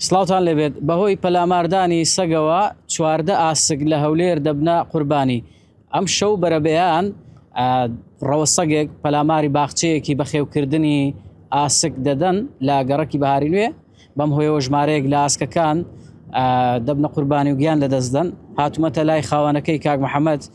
سڵاوتان لێبێت، بەهۆی پەلاماردانی سەگەوە چواردە ئاسک لە هەولێر دەبنە قوربانی، ئەمشەو بەرەبەیان ڕەوە سەگێک پەلاماری باخچەیەکی بەخێوکردنی ئاسک دەدەن لە گەڕەکی بەهاری نوێ، بەم هۆیەوە ژمارەیەک لە ئاسکەکان دەبنە قوربانی و گیان لەدەستدەن، هاتوومەتە لای خاوەنەکەی کاک محەمەد،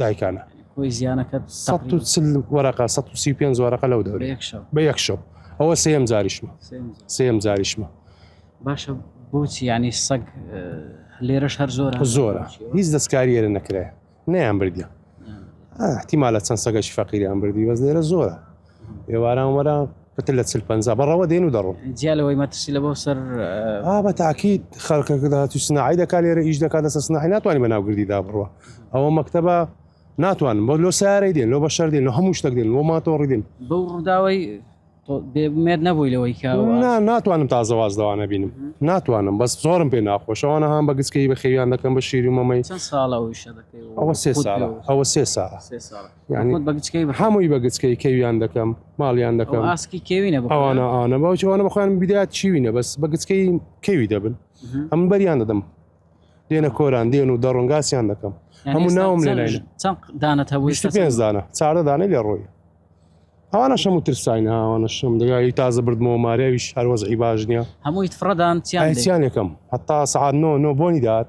دایکانە هۆی زیانەکە سەد و چل وەرەقە سەد و سی و پێنج وەرەقە لەو دەورە یەک شەو بە یەک شەو ئەوە سێم جاریشمە سێم جار. سێم جاریشمە باشە بۆچی یعنی سەگ اه، لێرەش هەر زۆر زۆرە هیچ دەستکاری ئێرە نەکرێ نەیان بردیان احتیمالە چەند سەگەشی فەقیریان بردی بەس لێرە زۆرە ئێواران وەرە پتر لە چل پەنجا بەڕەوە دێن و دەڕۆن جیا لەوەی مەترسی لە بۆ سەر ئا بە تاکید خەرکەکەدا تو سناعی دەکا لێرە ئیش دەکات لەسەر سناحی ناتوانانی بەناوگردیدا بڕوە ئەوە مەکتتەبە ناتوانن بۆ لۆ سارەی دێن لۆ بە شەر دێن لە هەموو شتەک دێن بۆ ماتۆڕی دێن بەو ڕووداوی بێمێت نەبووی لەوەی نا ناتوانم تازەواز دەوانە بینم ناتوانم بەس زۆرم پێ ناخۆشەوانە هاان بە گچکەی بە خێویان دەکەم بە شیری مەمەی ساڵەوە سێ ساڵە ئەوە سێ ساڵە هەمووی بە گچکەی کەویان دەکەم ماڵیان دەکەم ئاسکی کێوینە ئەوانە ئاە باوچوانە بخوان بدات چیوینە بەس بە گچکەی کەوی دەبن ئەم بەریان دەدەم دێنە کۆران دێن و دەڕنگاسیان دەکەم هەموو ناوم لە دانە پێ دانە چاردە دانە لێ ڕۆی ئەوانە شەم و ترساین ئەوانە شەم دەگای تازە بردمەوە ماریاویش هەروەزعی باش نییە هەمووی فڕدان چیان یەکەم هەتا سعات نۆ نۆ بۆنی دات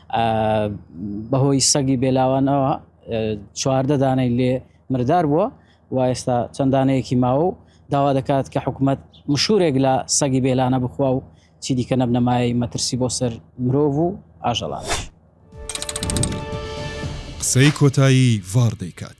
بەهۆی سەگی بێلاوانەوە چواردە دانەی لێ مردار بووە و ئێستا چەند دانەیەکی ماوە و داوا دەکات کە حکوومەت مشورێک لە سەگی بێلانە بخوا و چی دیکە نەبنەمایەی مەترسی بۆ سەر مرۆڤ و ئاژەڵان. قسەی کۆتایی ڤاڕ دەیکات.